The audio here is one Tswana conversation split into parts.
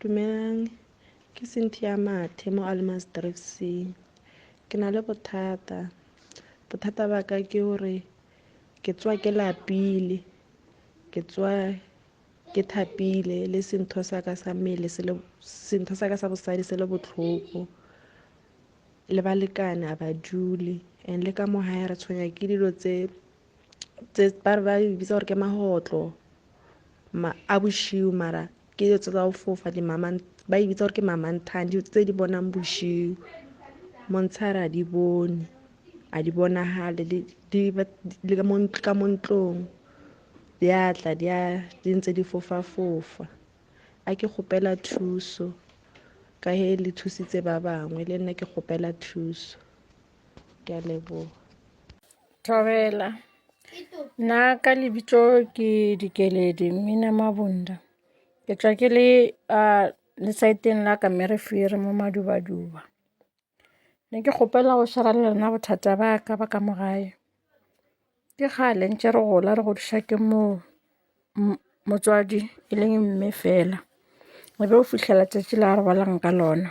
dumelang ke cynthia mathe mo almas drive c ke na le bothata bothata ba ka ke gore ke tswa ke lapile ke tswa ke thapile le sentho sa ka sa mmele sentho sa ka sa bosadi se le botlhoko le balekane a ba dule and le ka mo gae re tshwenya ke dilo tse ba ba e bitsa gore ke magotlo ma a boshiu mara ke dilo tse tsa go fofa dimamang ba e bitsa gore ke mamanthang dilo tse di bonang boshiu montshare a di bone a di bonagale le ka mo ntlong di a tla di a di ntse di fofa fofa a ke gopela thuso ka he le thusitse ba bangwe le nna ke gopela thuso ke a leboga Thobela. Nna ka lebitso ke Dikeledi Mmina Mabunda. Ke tswa ke le uh, lesaeteng la ka mme re fere mo madubaduba. Ne ke kgopela go shara le lena bothata ba ka ba ka mogae. Ke kgale ntse re gola re godisa ke mo motswadi e leng mme fela. Re be o fitlhela tsatsi la re bolang ka lona.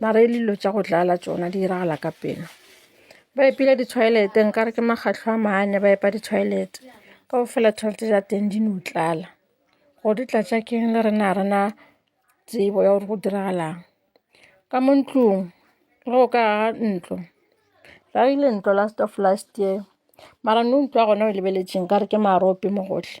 mara e le dilo tsa go dlala tsona di diragala ka pelo ba epile ditshwaelete nka re ke magatlo a maane ba epa ditshwaelete ka go fela tshwanetse ja teng di no tlala gore di tlatsa keng le rena a rena tsebo ya gore go diragalang ka mo ntlong re o ka aga ntlo ra ile ntlo last of last year mara no utlwa gona o lebeletseng ka re ke marope mo gotlhe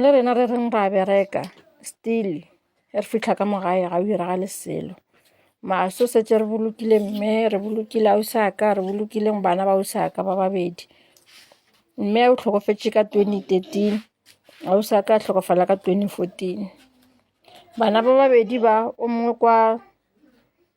Le rena re reng ra bereka still re fitlha ka morae ga o iragale selo maso setse re bolokile mme re bolokile a o sa ka re bolokileng bana ba o sa ka ba babedi mme o tlhokofetse ka twenty thirteen a o sa ka tlhokofala ka twenty fourteen bana ba babedi ba o mongwe kwa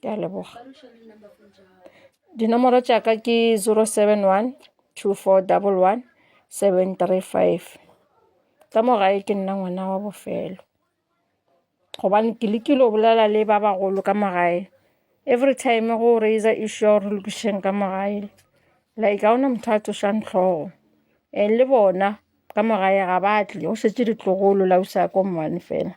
ke a leboga dinomoro tsaka ke 071 2411 735 ka morae ke nna ngwana wa bofelo gobane ke lekile o bolela le ba bagolo ka morae every time go raise issue ya gore lokišeng ka morae like ga ona motho a tsošang tlhogo and le bona ka morae ga batle o šetse ditlogolo la o sa ko mmane fela